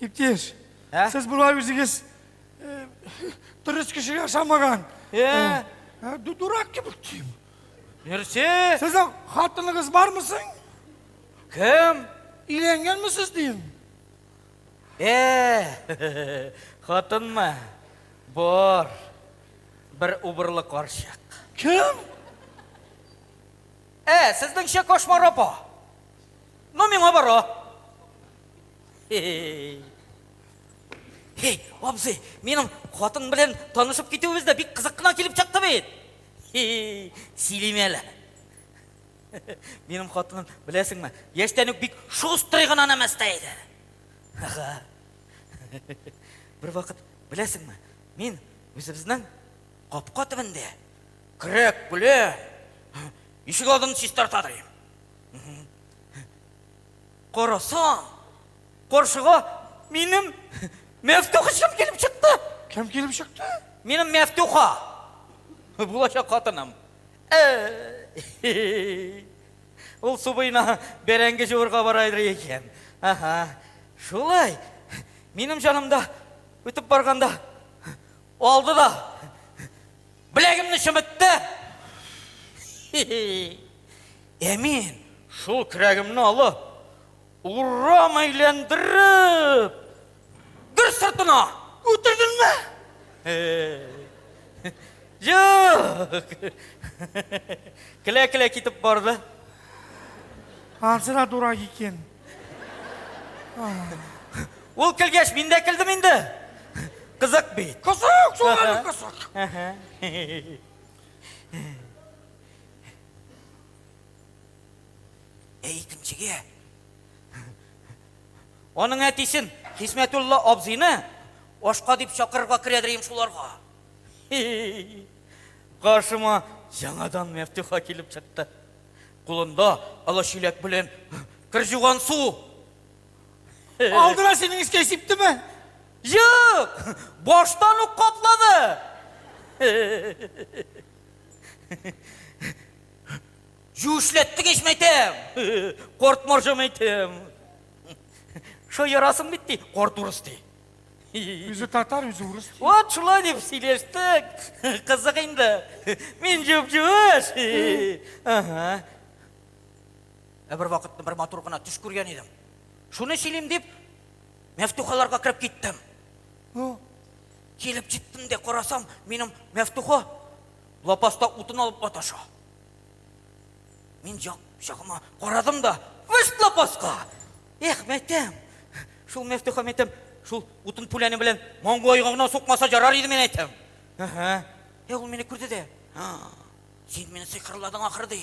Иптеш, ә? сез болай үзегез дөрес кеше ясамаган. Ә? Дурак кебек тим. Нәрсә? Сезнең хатыныгыз бармы соң? Кем? Өйләнгәнмесез дим. Ә, хатынмы? Бар. Бер убырлы карчык. Кем? Ә, сезнеңчә кошмар апа. Ну, миңа бара. Хе-хе-хе. Хей, абзый, минем хатын белән танышып китүебез дә бик кызык кына килеп чыкты бит. Хей, сөйлим әле. Минем хатыным, беләсеңме, яшьтән үк бик шустрый гына нәмәстә иде. Ага. Бер вакыт, беләсеңме, мин үзебезнең капка төбендә Крәк белә. Ишек алдын чистарта ди. Карасам, каршыга минем Мәфтуха чым килеп чыкты. Кем килеп чыкты? Минем Мәфтуха. Булачак хатыным. Ул субыйна бәрәңге җуырга бара иде икән. Ага. Шулай. Минем җанымда үтеп барганда алды да Беләгемне чымытты. Ә мин шул көрәгемне алып, урам әйләндереп, гөр сыртына үтердемме? Юк. Келә-келә китеп барды. Ансы да дурак икән. Ул көлгәч, мин дә көлдем инде. Кызык бит. Кызык, шулай кызык. Ә икенчегә аның әтисен Хисмәтулла абзыйны ашка дип чакырырга керәдер шуларга. Каршыма яңадан Мәфтуха килеп чыкты. Кулында ала чиләк белән кер җуган су. Алдыра синең искә сиптеме? Юк, баштан ук каплады. Юшләттең ич мәйтәм. Корт маржа мәйтәм. Шо ярасың бит ди, корт урыс ди. Үзе татар, үзе урыс. Вот шулай дип сөйләштек. Кызык инде. Мин җүп-җүеш. Ага. Ә бер вакытны бер матур гына төш күргән идем. Шуны сөйлим дип, мәфтухаларга кереп киттем. Ну, килеп җиттем дә карасам, минем мәфтуха лапаста утын алып маташа. Мин жак, жагыма карадым да, вышт лапаска! Эх, мәйтәм! Шул Мәфтуха мәйтәм, шул утын пүләне белән маңгайга гына сукмаса ярар иде, мин әйтәм. Әһә. Ә ул мине күрде дә. Син мине сыйкырладың ахыр ди.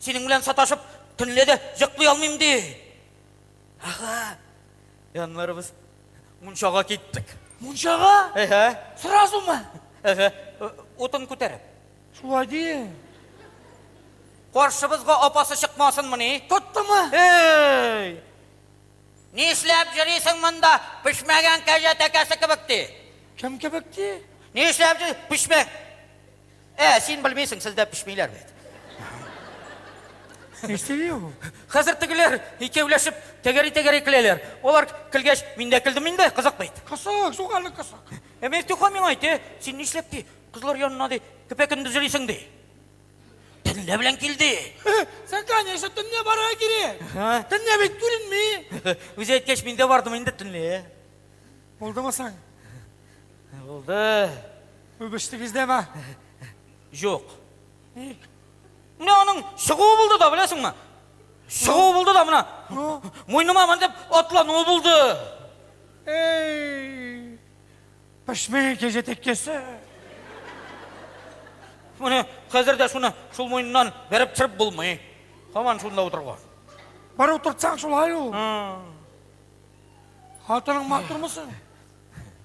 Синең белән саташып, төнлә дә йоклый алмыйм ди. Ага. Яннары без мунчага киттек. Мунчага? Әһә. Сразу мы? Әһә. Утын күтәреп. Шулай дин. Каршыбызга апасы чыкмасынмыни? Тоттымы? Эй! Нишләп җөрисең монда? Пешмәгән кәҗә тәкәсе кебек ти. Кем кебек ти? Нишләп җөри? Пешмәк. Ә, син белмисең, сездә пешмиләр бит. Ништели ул? Хәзер тегеләр икәүләшеп тәгәри-тәгәри көләләр. Алар көлгәч, мин дә көлдем инде, кызык бит. Кысык, суганы кысык. Ә Мифтюха миңа әйтте, син нишләп ти? Кызлар янына ди, көпә-көндез йөрисең ди. Төнлә белән кил ди. Сән, конечно, төнлә барырга кирәк. Төнлә бит күренми. Үзе әйткәч, мин дә бардым инде төнлә. Булдымы соң? Булды. Үбештегездәме? Юк. Ник? Менә аның чыгуы булды да, беләсеңме? Чыгуы булды да менә. Муйныма мендеп атлануы булды. Эй! Пешмәгән кәҗә тәккәсе. Менә хәзер дә шуны шул муеннан бәреп төшереп булмый. Һаман шунда утырга. Бар утыртсаң шулай ул. Хатының матурмы соң?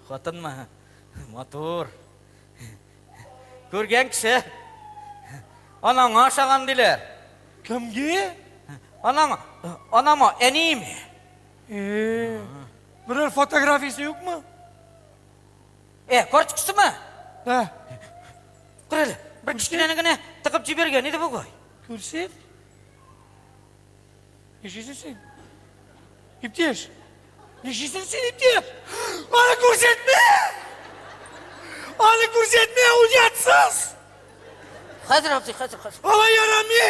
Хатынмы? Матур. Күргән кеше анаңа ошаган диләр. Кемге? Анаңа, анама, әниеме? Э, Берәр фотографиясе юкмы? Э, карточкасымы? Да. Күр әле, бер кечкенәне генә тыгып җибәргән иде бугай. Күрсәт. Ничесен син? Иптәш. Ничесен син, иптәш? Аны күрсәтмә! Аны күрсәтмә, уятсыз! Хәзер абзый, хәзер, хәзер. Алай ярамый!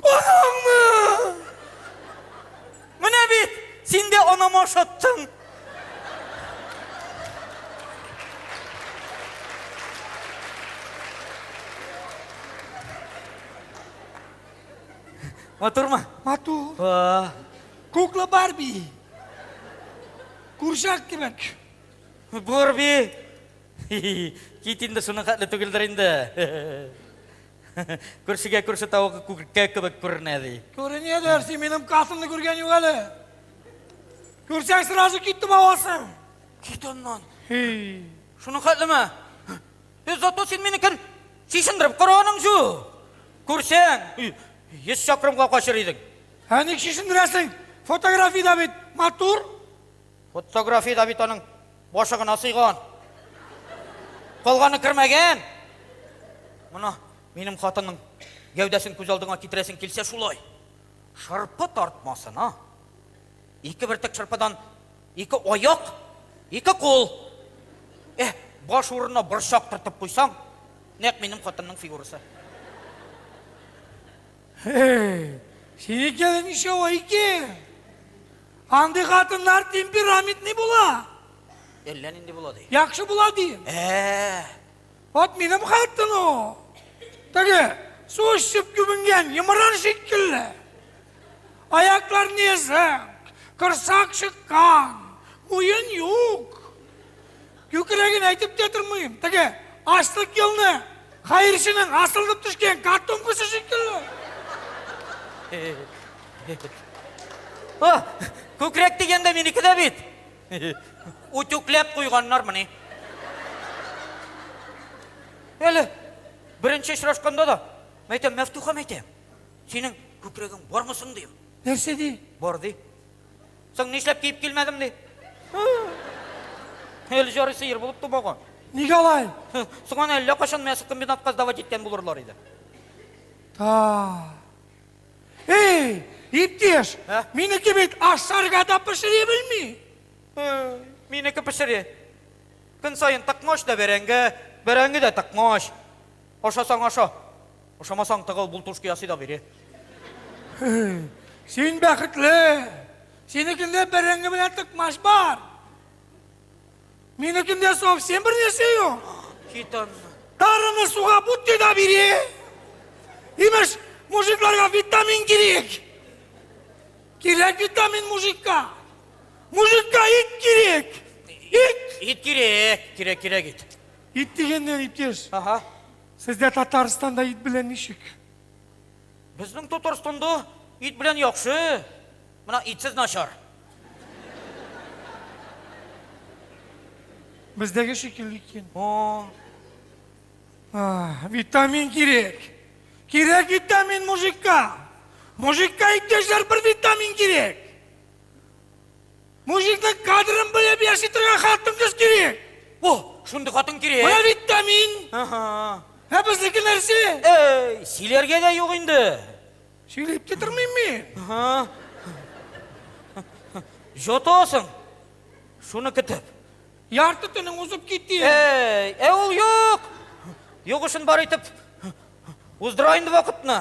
Анаңны! Менә бит, син дә анама ошаттың. Матурмы? Матур. Ва. Кукла Барби. Курчак кебек. Барби. Кит инде шуның хәтле түгелдер инде. Күршегә күрше тавыгы күркә кебек күренә, ди. Күренәдер, син минем касымны күргән юк әле. Күрсәң, сразу китеп авасың. Кит аннан. Шуның хәтлеме? Эй, зато син мине кер чишендереп караганың шу. Күрсәң, йөз чакрымга качыр идең. Ә ник чишендерәсең? Фотографиядә бит матур. Фотография да бит аның башы гына сыйган. Калганы кермәгән. Мына минем хатынның гәүдәсен күз алдыңа китерәсең килсә шулай. Шырпы тартмасына. Ике бертек шырпыдан ике аяк, ике кул. Э, баш урынына борчак тартып куйсаң, нәкъ минем хатынның фигурасы. Эй, синеке ничә ай икән? Андый хатыннар темпераментный була. Әллә нинди була ди. Яхшы була дим. Ә. Вот минем хатын о. Теге су эчеп күбенгән йомран шикелле. Аяклар незак, корсак чыккан, муен юк. Күкрәген әйтеп тә тормыйм, теге ачлык елны хәерченең асылынып төшкән картонкасы шикелле. О, күкрәк дигәндә минеке дә бит. Үтүкләп куйганнармыни? Әле беренче очрашканда да, мәйтәм, Мәфтухам әйтә, синең күкрәгең бармы соң, дим. Нәрсә ди? Бар ди. Соң нишләп киеп килмәдем ди? Әле җары сыер булып тумаган. Нигә алай? Соң аны әллә качан мясокомбинатка сдавать иткән булырлар иде. Та. Эй, иптеш, Ә? минеке бит ашарга да пешери белми. Э, Минеке пешери. Көн саен тыкмач та бәрәңге, бәрәңге дә тыкмач. Ашасаң аша. Ошамасаң тыгыл бултушка ясый да бир. Син бәхетле. Синекендә бәрәңге белән тыкмач бар. Минекендә совсем бер нәрсә юк. Кит аннан. Тарыны суга бутты да бери. Имеш, мужикларга витамин кирәк. Кирәк витамин мужикка. Мужикка ит кирәк. Ит. Ит кирәк, кирәк, кирәк ит. Ит дигәннән иптәш. Ага. Сездә Татарстанда ит белән ничек? Безнең Татарстанда ит белән яхшы, мына итсез начар. Бездәге шикелле икән. О. Витамин кирәк. Кирәк витамин мужикка. Мужикка иптәшләр бер витамин кирәк. Мужикның кадырын белеп яши торган хатын кыз кирәк. О, шундый хатын кирәк. Менә бит тә мин. Ага. Ә безнеке нәрсә? Эй, сөйләргә дә юк инде. Сөйләп тә тормыйм мин. Ага. Җотасың. Шуны көтеп. Ярты төнең узып китте. Эй, ә ул юк. Югышын бар итеп уздыра инде вакытны.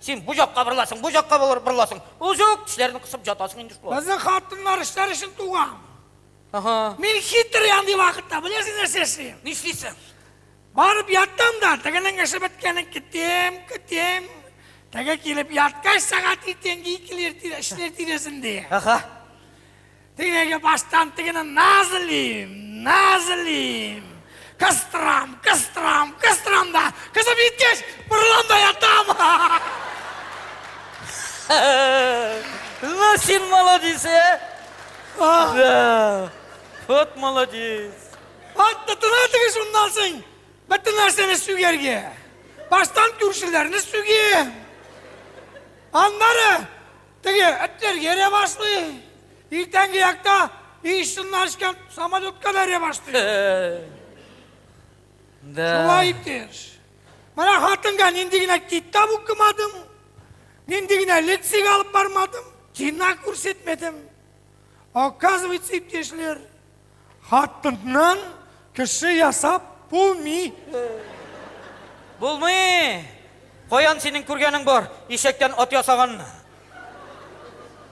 Син бу якка бырласың, бу якка бырласың. Узук тешләрен кысып ятасың инде шулай. Безнең хатыннар эшләр өчен туган. Ага. Мин хитр андый вакытта, беләсең нәрсә эшлим? Нишлисең? Барып яттым да, тегенең эше беткәнен көтәм, көтәм. Теге килеп яткач, сәгать иртәнге икеләр эшләр тирәсендә. Ага. Теге баштан тегене назлим, назлим. Кыстырам, кыстырам, кыстырам да, кызып җиткәч, борылам да ятам. Ну, син молодец, ә? Да. Вот молодец. Ат тотына теге шуннан соң. Бөтен нәрсәне сүгәргә. Баштан күршеләрне сүгәм. Аннары Теге этләр йөрә башлый. Иртәнге якта иешсыннар ишкән самолетка да йөрә башлый. Да. Шулай итеш. Менә хатынга нинди генә китап укымадым, нинди генә лекция алып бармадым, кино күрсәтмәдем. Оказывается, иптәшләр, Хатыннан кеше ясап булмый. Булмый! Каян синең күргәнең бар, ишәктән ат ясаганны?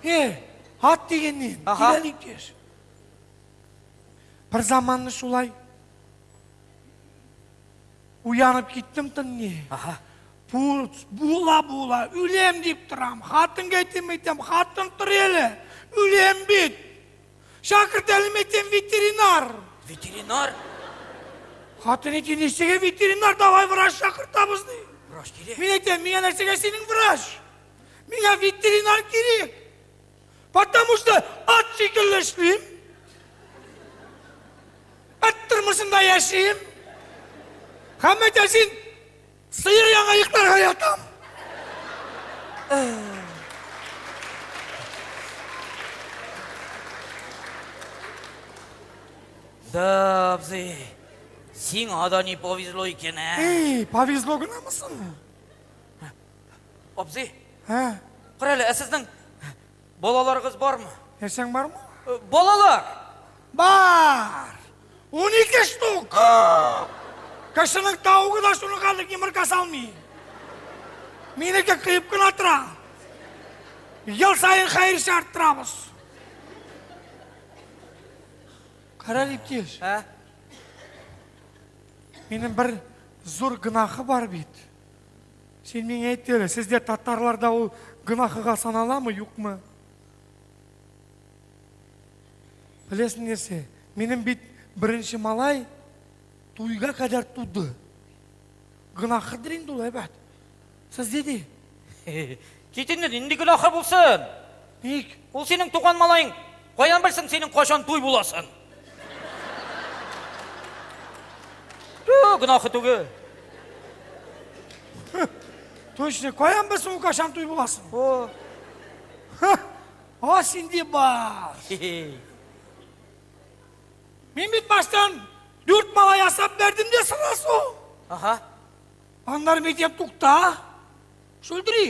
Э, ат дигәннән, Аха. киләлик кеш. Бер заманны шулай уянып киттем төнне. Аха. Бу- Була була, үлем дип торам. Хатынга әйтем әйтәм, хатын тор әле. Үлем бит. Шакырт әле мәйтем ветеринар. Ветеринар? Хатын ити ничеге ветеринар, давай врач шакыртабыз ди. Врач кирәк. Мин әйтәм, миңа нәрсәгә синең врач? Миңа ветеринар кирәк. Потому что ат шикелле эшлим. Ат тормышында яшим. Хәммәтә син Сыер яңа йокларга ятам. Да, абзый, сиңа да не повезло икән, ә? Эй, повезло гынамы соң? Абзый, Ә? карале, ә сезнең Балаларыгыз бармы? Нәрсәң бармы? Э, балалар! Бар! Унике штук! Кешенең таугы да шуның кадәр йомырка салмый. Минеке кыйып кына тора. Ел саен хәерче арттырабыз. Кара Лептиш, Ә? минем бер зур гынахы бар бит. Син миңа әйт әле, сездә татарларда ул гөнаһыга саналамы, юкмы? Беләсең нәрсә? Минем бит беренче малай туйга кадәр туды. Гөнаһыдыр инде ул, әйбәт. Сез диде. Кит инде, нинди гөнаһы булсын? Ник? Ул синең туган малаең, каян белсен синең кайчан туй буласын? Ту, гөнаһы түгел. Точно, каян белсен ул кайчан туй буласын? О. О, синде бар. Мин бит баштан дүрт мала ясап бердем дә сынасу. Ага. Аннар мектеп тукта. Шулдри,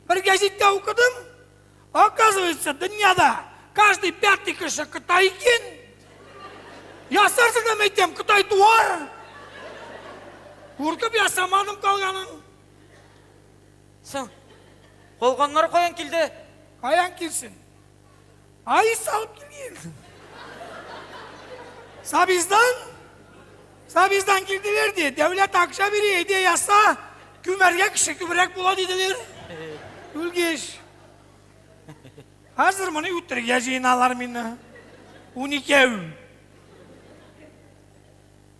бер гәзиттә укыдым, оказывается, дөньяда каждый пятый кеше Кытай икән. Ясарсың да мәйтәм, Кытай туар. Куркып ясамадым калганын. Соң, калганнар каян килде? Каян килсен? Ай, салып килгенсең. Сабиздан? Сабиздан килделәр ди. Дәүләт акча бери, әйдә яса. Күмәргә кеше күбрәк була диделәр. Үлгеш. Хәзер моны үтерергә җыеналар мине. Уникәү.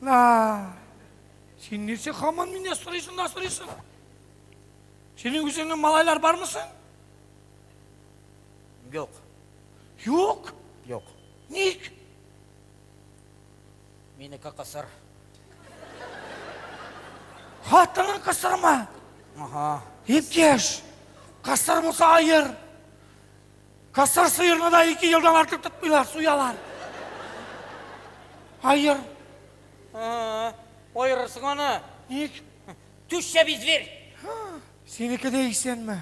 Ла. Син нәрсә хаман мине сорыйсың да сорыйсың? Синең үзеңнең малайлар бармы соң? Юк. Юк? Юк. Ник? Минеке кысыр. Хатының кысырмы? Ага. Иптәш, кысыр булса айыр. Кысыр сыерны да ике елдан артык тотмыйлар, суялар. Айыр. Айырырсың аны. Ник? Түшчә би зверь. Синеке дә исәнме?